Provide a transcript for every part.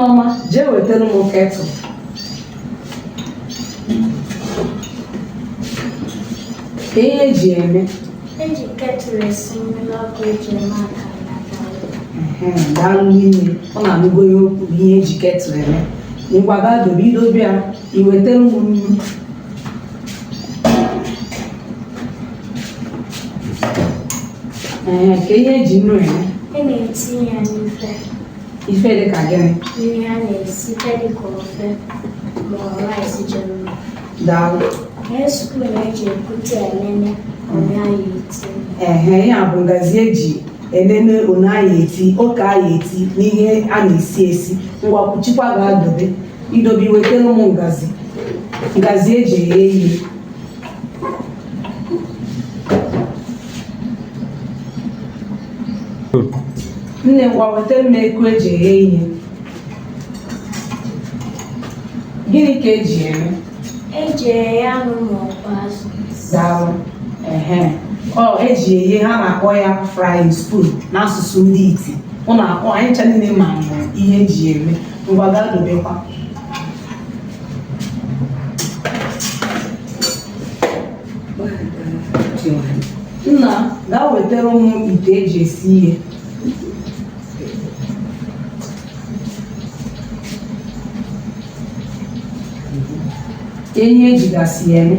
ọma jee wetara m ketụl ka ihe eji eme eji ketụl esi mmiri ọkụ eji eme aka daalụ nne m ụnụ anụgo ihe o kwuru ihe eji ketụl eme ngwa gaa dobe i dobe ya i wetara m nnu ee ka ihe eji nnu eme a na-etinye ya n'ife ife dị ka gịnị Nri a na-esite dị ka ofe ma ọ rice ji mma. daalụ Ihe spoon eji ekute elele one anyị eti. ehe ya bụ ngazi eji enene one anyị eti oke anyị eti n'ihe a na-esi esi ngwa kwuchikwa gaa dobe i dobe i wetara mụ ngazi ngazi eji eghe ihe nne ngwa wetara m eku eji eghe ihe gịnị ka eji eme eji eghe anụ ma ọ bụ azụ daalụ ehe ọ eji eghe ha na-akpọ ya frying spoon n'asụsụ ndị iti ụnụ akpọ anyị ncha niile ma ihe eji eme ngwa gaa dobekwa nna gaa wetara mụ ite eji esi ihe ihe ejigasị ya eme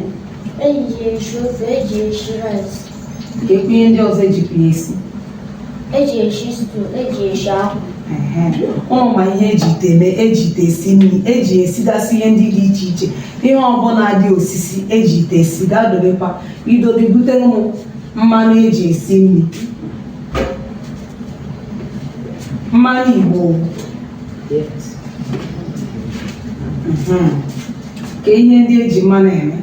eji eshi ofe eji eshi rice ga-ekwu ihe ndị ọzọ ejikwa ya esi eji eshi stu eji eshi akwụ ụnụ ma ihe eji ite eme eji ite esi nri eji esigasị ihe ndị dị iche iche ihe ọbụla dị osisi eji ite esi gaa dobekwa i dobe butere m mmanụ eji esi nri mmanụ igbo Mhm. ka ihe ndị eji mmanụ eme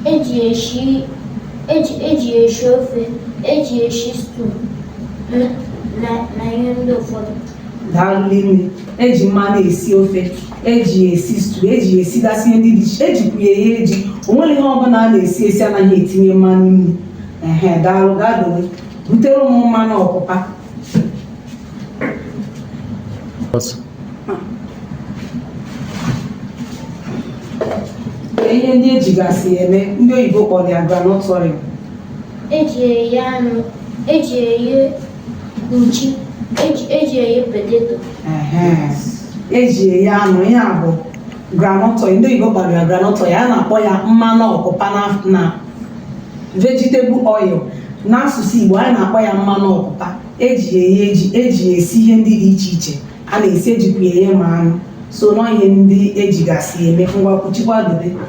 eji eshi eji eji eshi ofe eji eshi stew na na ihe ndị ụfọdụ daalụ nne m eji mmanụ esi ofe eji esi stu eji esigasị ihe ndị dị iche ejikwu ya eghe ji o nwere ihe ọbụla a na-esi esi anaghị etinye mmanụ nri ehe daalụ gaa dowe butere mụ mmanụ ọpụpa Bas. ihe ndị ejigasị eme ndị oyibo kpọrọ ya groundnut oil eji eye anụ eji eye nchi eji eji eye poteto Ehe. eji eye anụ ihe a bụ groundnut oil ndị oyibo kpọrọ ya groundnut oil a na-akpọ ya mmanụ ọpụpa na- na vegetable oil n'asụsụ Igbo anyị na-akpọ ya mmanụ ọpụpa eji ya eghe ji eji ya esi ihe ndị dị iche iche a na-esi ejikwa ya eghe ma anụ so n'ihe ndị ejigasị eme ngwa kwuchikwa dobe